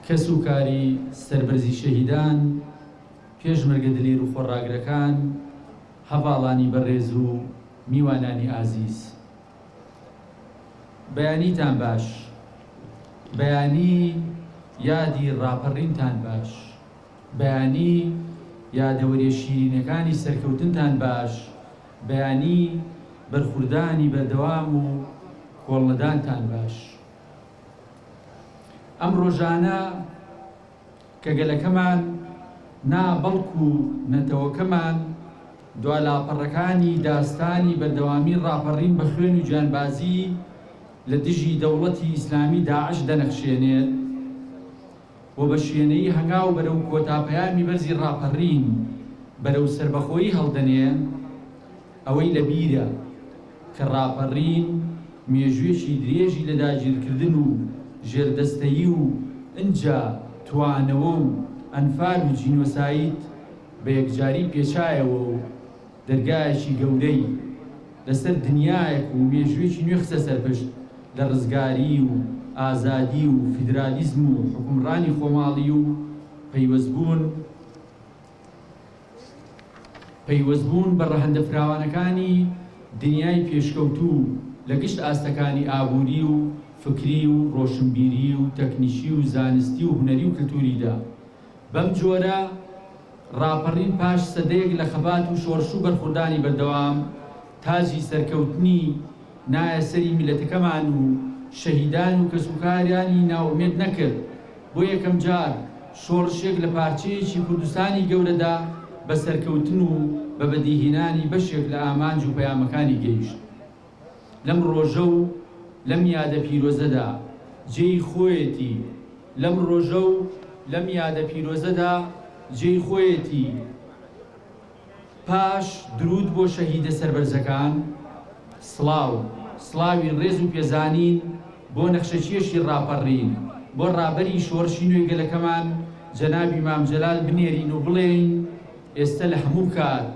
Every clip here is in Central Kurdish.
کەس و کاری سەربەرزی شەهیدان، پێشمەرگە دلێر و خۆڕاگرەکان، هەڤاڵانی بەڕێز و میوانانی ئازیز. بەیانیتان باش. بەیانی یادی ڕاپەڕینتان باش. بەیانی یادەوەریە شیرینەکانی سەرکەوتنتان باش بەیانی بەرخوردانی بەردەوام و کۆڵنەدانتان باش ئەم ڕۆژانە کە گەلەکەمان نا بەڵکو نەتەوەکەمان دوا لاپەڕەکانی داستانی بەردەوامی ڕاپەڕین بە خوێن و گیانبازی لە دژی دەوڵەتی ئیسلامی داعش دەنەخشێنێت و بە شوێنەیی هەنگاو بەرەو کۆتا پەیامی بەرزی ڕاپەڕین بەرەو سەربەخۆیی هەڵدەنێ، ئەوەی لە بیرە کە ڕاپەڕین مێژووێکی درێژی لە داگیرکردن و ژێردەستەیی و ئنجا توانەوە و ئەنفال و جینۆساید بە یەکجاری پێچایەوە و، دەرگایەکی گەورەی لەسەر دنیایەک و مێژوویەکی نوێ خستە سەرپشت لە ڕزگاری و ئازادی و فیدرالیزم و حوکمڕانی خۆماڵی و پەیوەستبوون پەیوەستبوون بە ڕەهەندە فراوانەکانی دنیای پێشکەوتوو لە گشت ئاستەکانی ئابووری و فکری و ڕۆشنبیری و تەکنیکی و زانستی و هونەری و کلتووریدا بەم جۆرە ڕاپەڕین پاش سەدەیەک لە خەبات و شۆڕش و بەرخوردانی بەردەوام، تاجی سەرکەوتنی نایە سەری میللەتەکەمان و شەهیدان و کەسوکارانی نائومێد نەکرد، بۆ یەکەم جار شۆڕشێک لە پارچەیەکی کوردستانی گەورەدا بە سەرکەوتن و بە بەدیهێنانی بەشێک لە ئامانج و پەیامەکانی گەیشت. لەم ڕۆژە و لەم یادە پیرۆزەدا جێی خۆیەتی لەم ڕۆژە و لەم یادە پیرۆزەدا جێی خۆیەتی پاش دروود بۆ شەهیدە سەربەرزەکان سڵاو سڵاوی ڕێز و پێزانین بۆ نەخشەکێشی ڕاپەڕین بۆ ڕابەری شۆڕشی نوێی گەلەکەمان جەنابی مام جەلال بنێرین و بڵێین ئێستە لە هەموو کات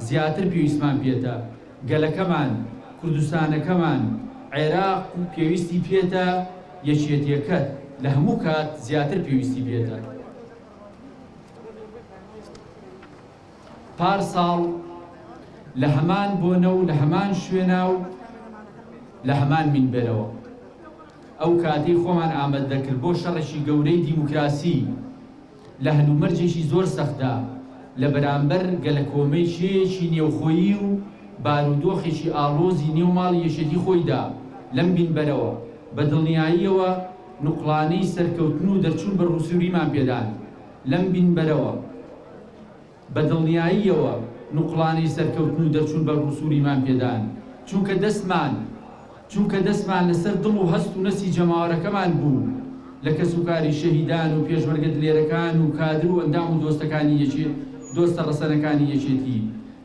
زیاتر پێویستمان پێتە. گەلەکەمان، کوردستانەکەمان، عێراق و پێویستی پێتە، یەکێتیەکەت لە هەموو کات زیاتر پێویستی پێتە. پار ساڵ لە هەمان بۆنە و لە هەمان شوێنا و لە هەمان مینبەرەوە ئەو کاتەی خۆمان ئامەد دەکرد بۆ شەڕێکی گەورەی دیموکراسی، لە هەلومەرجێکی زۆر سەختدا لە بەرامبەر گەلەکۆمەی کێیەکی نێوخۆیی و بارودۆخێکی ئاڵۆزی نێو ماڵی یەکێتی خۆیدا، لەم بینبەرەوە بە دڵنیاییەوە نوقڵانەی سەرکەوتن و دەرچوون بە رووسووریمان پێدان. لەم بینبەرەوە. بە دڵنیاییەوە نوقڵانەی سەرکەوتن و دەرچوون بەر ڕووسووریمان پێدان، چونکە دەستمان چونکە دەستمان لەسەر دڵ و هەست و نەستی جەماوەرەکەمان بوو، لە کەسوکاری شەهیدان و پێشمەرگە دلێرەکان و کادر و ئەندام و دۆستەکانی یەکێ دۆستە ڕەسەنەکانی یەکێتی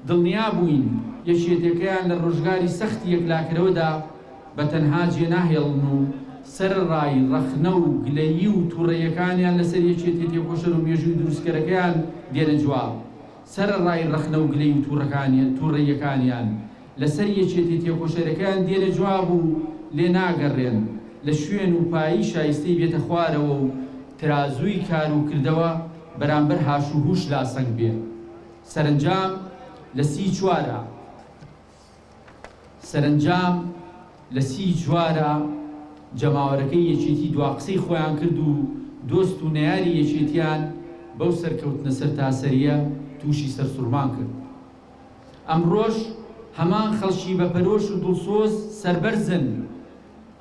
دڵنیا بووین، یەکێتێکەیان لە ڕۆژگاری سەختی یەکلاکەرەوەدا، بە تەنها جێ ناهێڵن و سەرەڕای ڕەخنە و گلەیی و توڕەییەکانیان لەسەر یەکێتیە تێکۆشەر و مێژووی دروستکەرەکەیان دێنە جواب سەرەڕای ڕەخنە و گلەی و توڕەکانیان توڕەییەکانیان لەسەر یەکێتی تێکۆشەرەکەیان دێنە جواب و لێ ناگەڕێن لە شوێن و پایی شایستەی بێتە خوارەوە و ترازووی کار و کردەوە بەرامبەر هاش و هوش لاسەنگ بێ سەرەنجام لە سی چوار ە سەرەنجام لە سی جوارە جەماوەرەکەی یەکێتی دوا قسەی خۆیان کرد و دۆست و نەیاری یەکێتیان بەو سەرکەوتنە سەرتاسەریە توشی سەرسوڕمان کرد. ئەمڕۆش هەمان خەڵکی بەپەرۆش و دڵسۆز سەربەرزن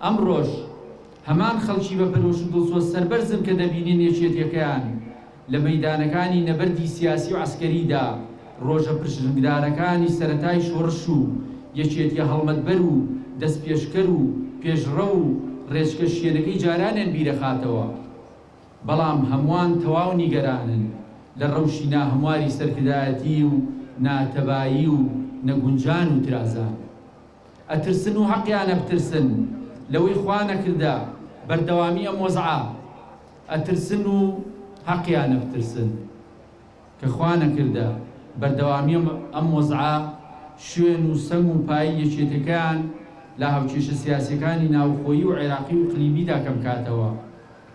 ئەمڕۆش هەمان خەڵکی بە پەرۆش و دڵسۆز سەربەرزن کە دەبینن یەکێتیەکەیان لە مەیدانەکانی نەبەردی سیاسی و عەسکەریدا ڕۆژە پرشنگدارەکانی سەرەتای شۆڕش و یەکێتیە هەڵمەتبەر و دەستپێشکەر و پێشڕەو و ڕێچکە شکێنەکەی جارانیان بیردەخاتەوە بەڵام هەموان تەواو نیگەرانن لە ڕەوشی ناهەمواری سەرکردایەتی و ناتەبایی و نەگونجان و ترازان ئەترسن و هەقیانە بترسن لەوەی خوا نەکردە بەردەوامی ئەم وەزعە ئەترسن و هەقیانە بترسن کە خوا نەکردە بەردەوامی ئەم وەزعە شوێن و سەنگ و پایی یەکێتەکەیان لە هاوکێشە سیاسیەکانی ناوخۆیی و عێراقی و قلیبیدا کەمکاتەوە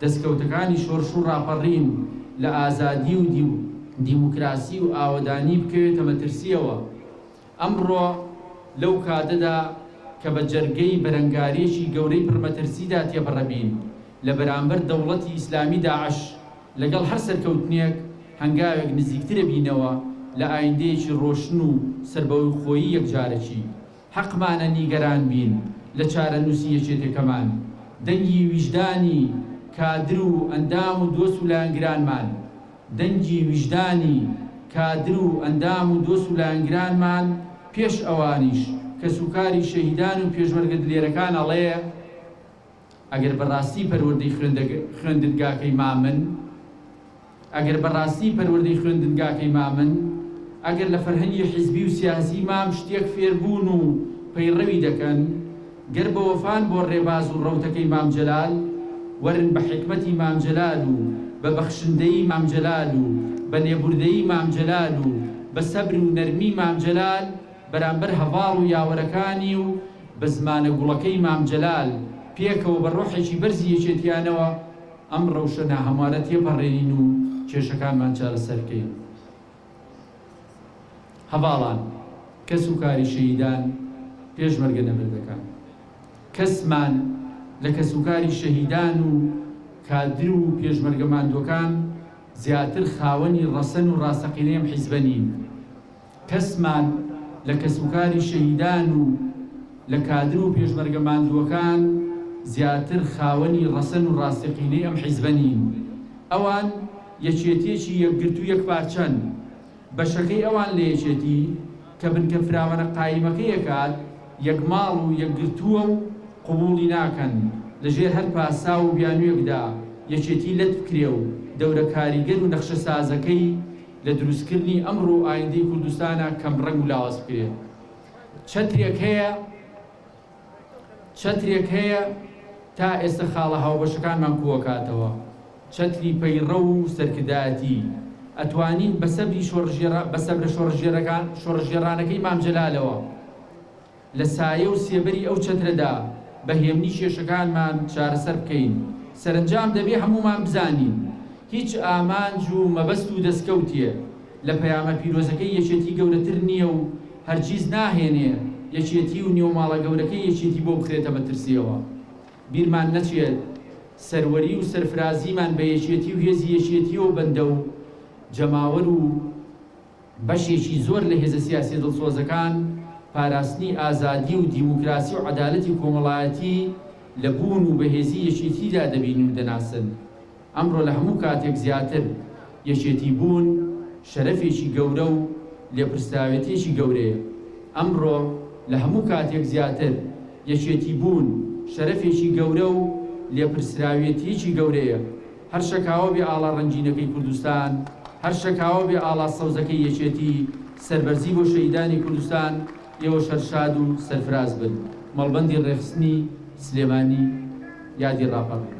دەسکەوتەکانی شۆرش و ڕاپەڕین لە ئازادی و دیموکراسی و ئاوەدانی بکەوێتە مەترسیەوە. ئەمڕۆ لەو کاتەدا کە بە جەرگەی بەرەنگاریەکی گەورەی پڕ مەترسیدا تێپەڕەبین لە بەرامبەر دەوڵەتی ئیسلامی داعش، لەگەڵ هەر سەرکەوتنێک هەنگاوێک نزیکترەبینەوە لە ئایندەیەکی ڕۆشن و سەربەخۆیی یەکجارەکی. حەقمانە نیگەران بین لە چارەنوسی یەکێتەکەمان. دەنگی ویژدانی کادر و ئەندام و دۆست و لایەنگرانمان دەنگی ویژدانی کادر و ئەندام و دۆست و لایەنگرانمان پێش ئەوانیش، کەسوکاری شەهیدان و پێشمەرگە دلێرەکان ئەڵێ، ئەگەر بە ڕاستی پەروەردەی خوێندنگاکەی مامن، ئەگەر بە ڕاستی پەروەردەی خوێندنگاکەی مامن، ئەگەر لە فەرهەنگی حیزبی و سیاسی مام شتێک فێربوون و پەیڕەوی دەکەن، گەر بە وەفان بۆ ڕێباز و ڕەوتەکەی مام جەلال، وەرن بە حیکمەتی مام جەلال و بە بەخشندەیی مام جەلال و بە لێبوردەیی مام جەلال و بە سەبر و نەرمی مام جەلال بەرامبەر هەڤاڵ و یاوەرەکانی و بە زمانە گوڵەکەی مام جەلال پێکەوە بە ڕۆحێکی بەرزی یەکێتیانەوە ئەم ڕەوشە ناهەموارە تێپەڕێنین و کێشەکانمان چارەسەر بکەین. هەڤاڵان کەس و کاری شەهیدان پێشمەرگە نەبەر دەکات کەسمان لە کەس و کاری شەهیدان و کادر و پێشمەرگە ماندووەکان زیاتر خاوەنی ڕەسەن و ڕاستەقینەی ئەم حیزبە نین کەسمان لە کەس و کاری شەهیدان و لە کادر و پێشمەرگە ماندووەکان زیاتر خاوەنی ڕەسەن و ڕاستەقینەی ئەم حیزبە نین ئەوان یەکێتیەکی یەکگرتو یەکپارچەن، بەشەکەی ئەوان لە یەکێتی کە بنکە فراوانە قایمەکەی ئەکات یەکماڵ و یەکگرتوە و قبوڵی ناکەن لە ژێر هەر پاساو و بیانویەکدا یەکێتی لەت بکرێ و دەورە کاریگەر و نەخشە سازەکەی لە دروستکردنی ئەمڕۆ و ئایندەی کوردستانا کەم ڕەنگ و لاواز بکرێ چەترێک هەیە چەترێک هەیە تا ئێستا خاڵە هاوبەشەکانمان کووەکاتەوە، چەتری پەیڕەو و سەرکردایەتی. ئەتوانین بە سەبری شۆڕشگێڕا بە سەبرە شۆڕشگێڕەکان شۆڕشگێڕانەکەی مام جەلالەوە لە سایە و سێبەری ئەو چەترەدا بە هێمنی کێشەکانمان چارەسەر بکەین. سەرەنجام دەبێ هەموومان بزانین هیچ ئامانج و مەبەست و دەسکەوتێ. لە پەیامە پیرۆزەکەی یەکێتی گەورەتر نییە و هەرگیز ناهێنێ یەکێتی و نێوماڵە گەورەکەی یەکێتی بۆ بخرێتە مەترسییەوە. بیرمان نەچێت سەروەری و سەرفرازیمان بە یەکێتی و هێزی یەکێتییەوە بەندە و جەماوەر و بەشێکی زۆر لە هێزە سیاسییە دڵسۆزەکان پاراستنی ئازادی و دیموکراسی و عەدالەتی کۆمەڵایەتی لە بوون و بەهێزی یەکێتیدا دەبین و دەناسن. ئەمڕۆ لە هەموو کاتێک زیاتر یەکێتی بوون شەرەفێکی گەورە و لێپرسراوێتیەکی گەورەیە. ئەمڕۆ لە هەموو کاتێک زیاتر یەکێتی بوون شەرەفێکی گەورە و لێپرسراوێتیەکی گەورەیە. هەر شەکاوە بێ ئاڵا ڕەنگینەکەی کوردستان، هەر شەکاوە بێ ئاڵا سەوزەکەی یەکێتی، سەربەرزی بۆ شەهیدانی کوردستان، یەوە شەر شاد و سەرفراز بن. مەڵبەندی ڕێخستنی سلێمانی یادی ڕاپەڕین.